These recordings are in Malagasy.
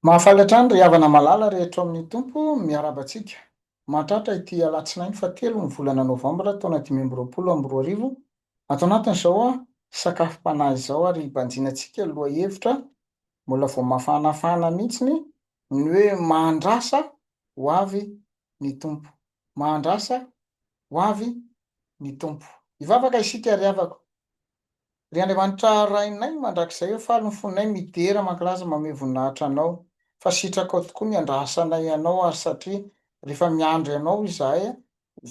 Mahafaly hatrany ry havana malala rehetra ao amin'ny Tompo, miarahaba antsika. Mahatratra ity alatsinainy fahatelo ny volana novambra taona dimy amby roapolo amby roa arivo ato anatin'izao sakafom-panahy izao ary hibanjina antsika lohahevitra mbola vao mafanafana mihitsiny ny hoe mahandrasa ho avy ny Tompo. Mahandrasa ho avy ny Tompo. Hivavaka isika ry havako. Ry Andriamanitra Rainay mandrakizay ô faly ny fonay midera mankalaza mamehy voninahitra Anao fa sitrakao tokoa ny andrasanay Ianao ary satria rehefa miandry Anao izahay a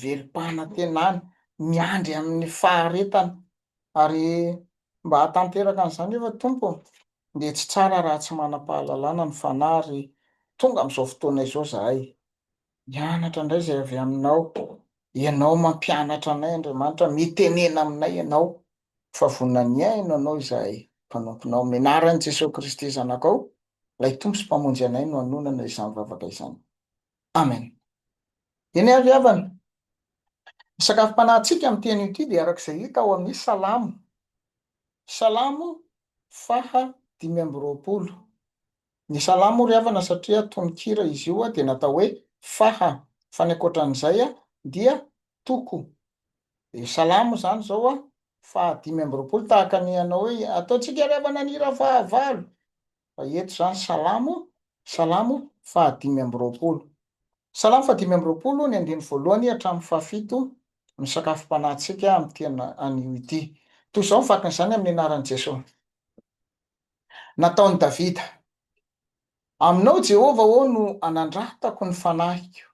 velom-panantenana miandry amin'ny faharetana ary mba hahatanteraka an'izany nefa Tompo dia tsy tsara raha tsy manam-pahalalana ny fanahy ary tonga amin'izao fotoana izao izahay Mianatra indray izay avy Aminao. Ianao mampianatra anay, Andriamanitra, mitenena aminay Ianao, fa vonona ny hihaino Anao izahay, mpanomponao. Amin'ny anaran'i Jesoa Kristy Zanakao, Ilay Tompo sy Mpamonjy anay no anonana izany vavaka izany. Amen. Eny àry havana. Ny sakafom-panahintsika amin'ny teny io ity dia araka izay hita ao amin'ny Salamo. Salamo faha dimy amby roapolo. Ny salamo hoy ry havana satria tononkira izy io dia natao hoe faha, fa ny ankoatran'izay dia toko. Dia salamo izany izao faha dimy amby roapolo tahaka ny hanao hoe ataontsika ry havana ny hira faha valo, fa eto izany salamo, salamo faha dimy amby roapolo. Salamo faha dimy amby roapolo ny andininy voalohany hatramin'ny faha fito misakafom-panahintsika amin'ity anio ity. Toy izao ny vakin'izany amin'ny anaran'i Jesoa. nataon'i Davida, Aminao, Jehovah ô, no anandratako ny fanahiko.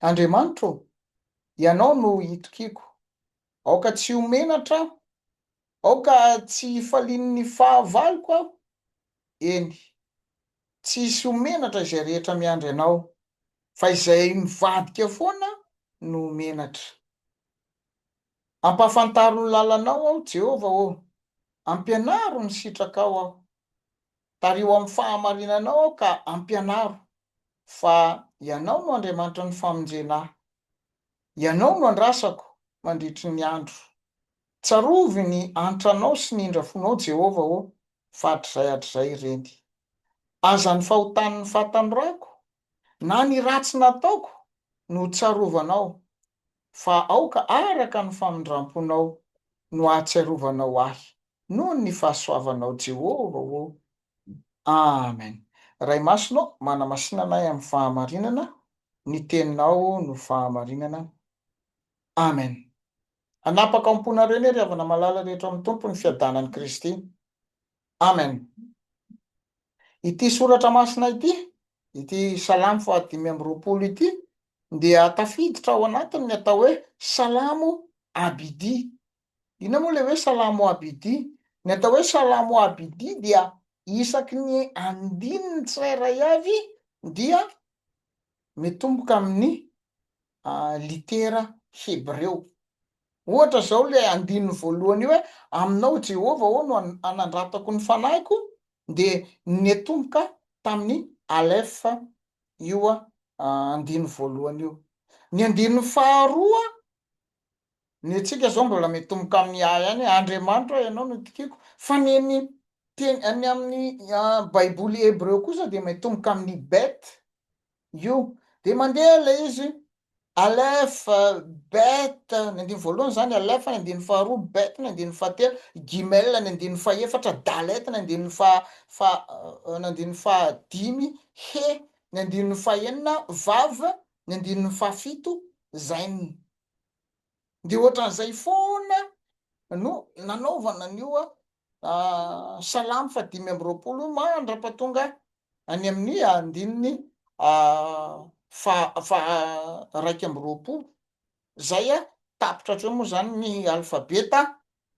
Andriamanitra ô, ianao no itokiako. Aoka tsy ho menatra aho, aoka tsy hifalian'ny fahavaloko aho, eny, tsy hisy ho menatra izay rehetra miandry anao, fa izay mivadika foana no menatra. Ampahafantaro ny lalanao aho, Jehovah ô, ampianaro ny sitrakao aho. Tariho amin'ny fahamarinanao aho ka ampianaro fa ianao no Andriamanitry ny famonjena ahy. Ianao no andrasako mandritry ny andro. Tsarovy ny antranao sy ny indrafonao, Jehovah ô, fa hatrizay hatrizay ireny. Aza ny fahotan'ny fahatanorako Na ny ratsy nataoko no tsarovanao, fa aoka araka ny famindram-ponao no ahatsiarovanao ahy noho ny fahasoavanao Jehovah ô. Amen. Ray Masina ô, manamasìnana ahy amin'ny fahamarinana, ny Teninao no fahamarinana. Amen. Hanapaka ao am-ponareo anie ry havana malala rehetra amin'ny Tompo ny fiadanan'i Kristy. Amen. Ity soratra masina ity, ity Salamo fahadimy amby roapolo ity dia tafiditra ao anatiny ny atao hoe Salamo Abidi. Inona moa ilay hoe Salamo Abidi? Ny atao hoe Salamo Abidi dia isaky ny andininy tsirairay avy dia mitomboka amin'ny litera hebreo. Ohatra izao ilay andininy voalohany io hoe, Aminao, Jehovah, aho no anandratako ny fanahiko, dia niatomboka tamin'ny aleph io andininy voalohany io. Ny andininy faharoa, ny antsika izao mbola miatomboka amin'ny yah ihany, Andriamanitro aho, ianao no itokiako, fa ny an'ny teny, ny amin'ny Baiboly hebreo kosa dia miatomboka amin'ny bet, Io. Dia mandeha ilay izy, Alef, Bet, ny andininy voalohany izany, Alef ny andininy faharoa, Bet ny andininy fahatelo, Gimel ny andininy fahefatra, Dalet ny andininy faha, faha, ny andininy fahadimy, He ny andininy fahenina, Vav ny andininy fahafito, Zain. Dia ohatran'izay foana no nanaovana an'io Salamo fahadimy amby roapolo, Mandra-pahatonga any amin'ny andininy faha faharaika amby roapolo izay a, tapitra hatreo moa izany ny alfabeta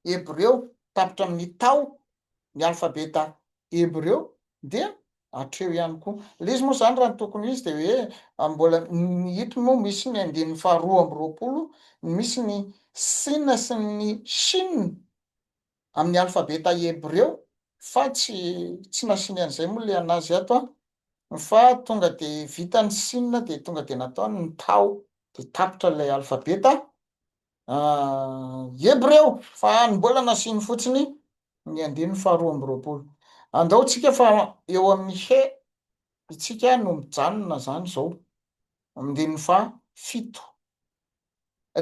hebreo, tapitra amin'ny tao ny alfabeta hebreo dia hatreo ihany koa. Ilay izy moa izany raha ny tokony ho izy dia hoe mbola ny eto moa misy ny andininy faharoa amby roapolo, misy ny Sina sy ny Chine amin'ny alfabeta hebreo fa tsy tsy nasiany an'izay moa le anazy ato an, fa tonga de vitan'ny sinina de tonga de nataony ny tao de tapitra ilay alfabeta hebreo fa ny mbola nasiany fotsiny ny andininy faharoa amby roapolo andao tsika fa eo amin'ny he itsika no mijanona zany zao amdininy faha fito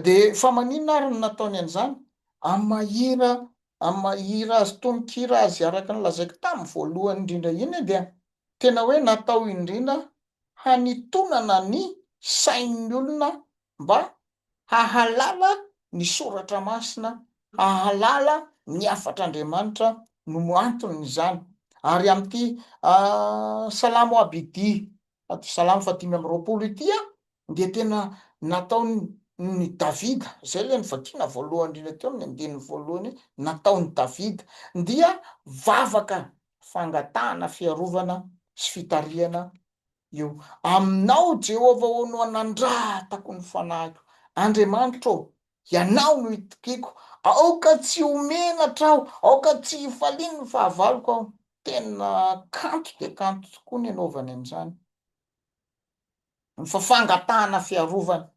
Dia fa maninona ary no nataony an'izany? Amin'ny maha hira, amin'ny maha hira azy, tononkira azy, araka ny lazaiko tamin'ny voalohany indrindra iny dia tena hoe natao indrindra hanitonana ny sain'ny olona mba hahalala ny soratra masina, hahalala ny hafatr'Andriamanitra no anton'izany. Ary amin'ity Salamo Abidi, salamo fahadimy amby roapolo ity Dia tena nataon'i Davida, izay ilay novakiana voalohany indrindra teo amin'ny andininy voalohany hoe nataon'i Davida, dia vavaka fangatahana fiarovana sy fitarihana io. Aminao, Jehovah ô, no anandratako ny fanahiko. Andriamanitra ô, ianao no itokiko. Aoka tsy ho menatra aho, aoka tsy hifalian'ny fahavaloko aho. Tena kanto dia kanto tokoa ny anaovany an'izany. Fa fangatahana fiarovana,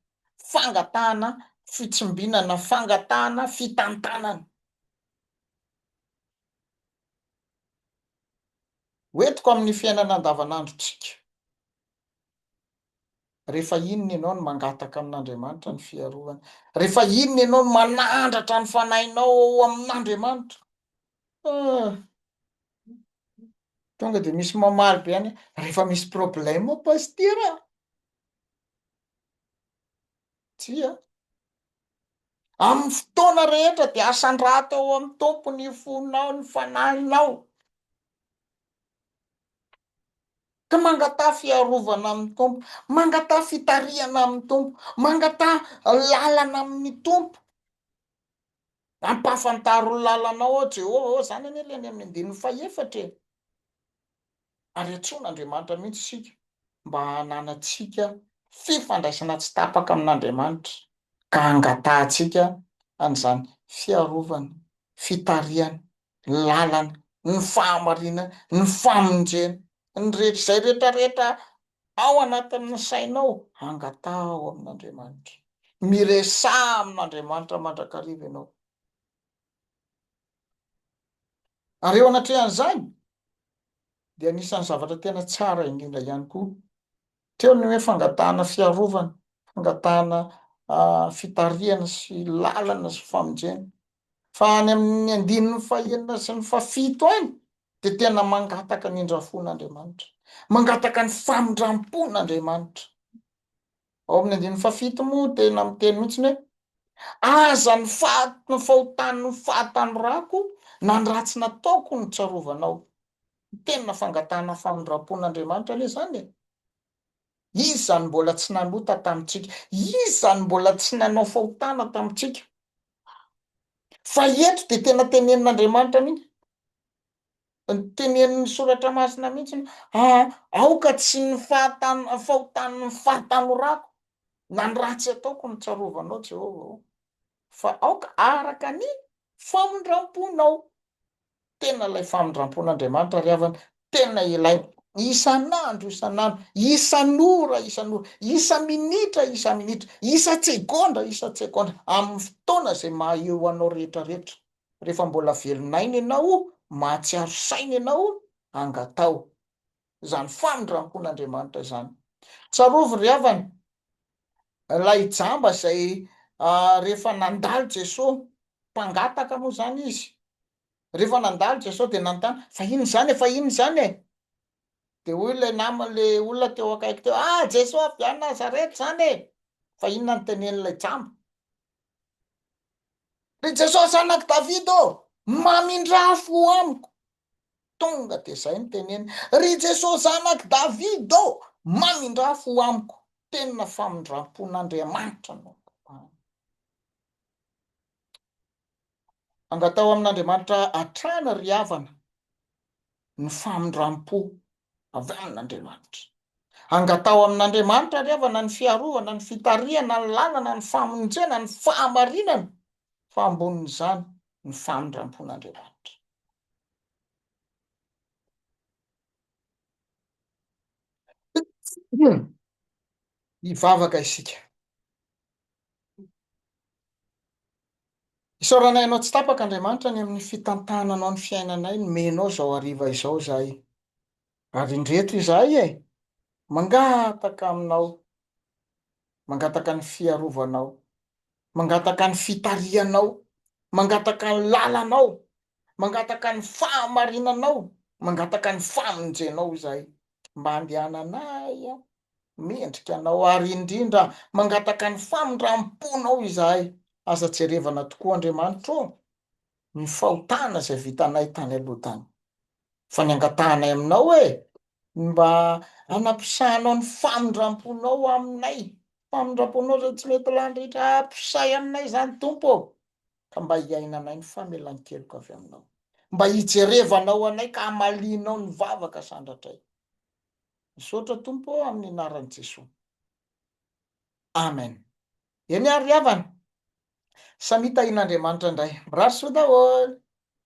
fangatahana fitsimbinana, fangatahana fitantanana. Hoentiko amin'ny fiainana andavanandrontsika. Rehefa inona ianao no mangataka amin'Andriamanitra ny fiarovana? Rehefa inona ianao no manandratra ny fanahinao ao amin'Andriamanitra? Ah. Tonga dia misy mamaly be any, rehefa misy problème pasitera. Tsia. Amin'ny fotoana rehetra dia asan-drato ao amin'ny tompo ny fonao, ny fanahinao. Ka mangataha fiarovana amin'ny tompo, mangataha fitarihana amin'ny tompo, mangataha lalana amin'ny tompo. Ampahafantaro ny lalanao aho Jehovah ô, izany anie ilay any amin'ny andininy fahefatra e! Ary antsoin'Andriamanitra mihitsy isika mba hananantsika fifandraisana tsy tapaka amin'Andriamanitra, ka hangatahantsika an'izany fiarovana, fitarihana, ny lalana, ny fahamarinana, ny famonjena, ny rehetra, izay rehetra rehetra Ao anatin'ny sainao, angataho amin'Andriamanitra. Miresaha amin'Andriamanitra mandrakariva ianao. Ary eo anatrehan'izany, dia anisan'ny zavatra tena tsara indrindra ihany koa, teo ny hoe fangatahana fiarovana, fangatahana fitarihana sy lalana sy famonjena. Fa any amin'ny andininy fahenina sy ny fahafito any dia tena mangataka ny indrafon'Andriamanitra. Mangataka ny famindrampon'Andriamanitra. Ao amin'ny andininy fahafito moa tena miteny mihitsy ny hoe aza ny faty fahotan'ny fahatanorako na ny ratsy nataoko no tsarovanao. Tena fangatahana famindrampon'Andriamanitra anie izany e. Iza no mbola tsy nanota tamintsika? Iza no mbola tsy nanao fahotana tamintsika? Fa eto dia tena tenenin'Andriamanitra mihitsy, tenenin'ny Soratra Masina mihitsy ny hoe, Aoka tsy ny fahotan'ny fahatanorako na ny ratsy ataoko no tsarovanao, Jehovah ô. fa aoka araka ny famindramponao. Tena ilay famindrampon'Andriamanitra ry havana, tena ilaina isan'andro isan'andro, isan'ora isan'ora, isa-minitra isa-minitra, isa-tsegondra isa-tsegondra, amin'ny fotoana izay maha eo anao rehetra rehetra. Rehefa mbola velon'aina ianao, mahatsiaro saina ianao, angataho. izany famindrampon'Andriamanitra izany. Tsarovy ry havana, ilay jamba izay rehefa nandalo Jesoa, mpangataka moa izany izy, rehefa nandalo Jesoa dia nanontany, fa inona izany e, fa inona izany e? Dia hoy ilay namany, ilay olona teo akaiky teo, ah Jesoa avy any Nazareta izany e! Fa inona no tenenin'ilay jamba? Ry Jesoa zanak'i Davida ô, mamindrafo amiko! Tonga dia izay no teneniny, Ry Jesoa Zanak'i David ô! mamindrafo ho amiko, tena famindrampon'Andriamanitra no ampahany. Angataho amin'Andriamanitra hatrany ry havana ny famindrampo avy amin'Andriamanitra. Angataho amin'Andriamanitra ry havana ny fiarovana, ny fitarihana, ny lalana, ny famonjena, ny fahamarinana, fa ambonin'izany ny famindrampon'Andriamanitra. Hivavaka isika. Isaoranay Anao tsy tapaka, Andriamanitra, ny amin'ny fitantananao ny fiainanay, nomenao izao hariva izao izahay. Ary indreto izahay e! mangataka Aminao, mangataka ny fiarovanao, Mangataka ny fitarihanao, mangataka ny lalanao, mangataka ny fahamarinanao, mangataka ny famonjenao izahay. Mba andehananay mendrika anao ary indrindra mangataka ny famindram-ponao izahay. Aza jerevana tokoa Andriamanitro ô, ny fahotana izay vitanay tany aloha tany. fa ny angatahanay aminao hoe ny mba hanampisahanao ny famindram-ponao aminay, famindram-ponao izay tsy mety lany rehetra, ampisahy aminay izany Tompo ô, ka mba hiainanay ny famelan-keloka avy aminao, mba hijerevanao anay ka hamalianao ny vavaka sandratray. Misaotra Tompo ô amin'ny anaran'i Jesoa. Amen. Eny ary ry havana, samia tahian'Andriamanitra indray. Mirary soa daholo.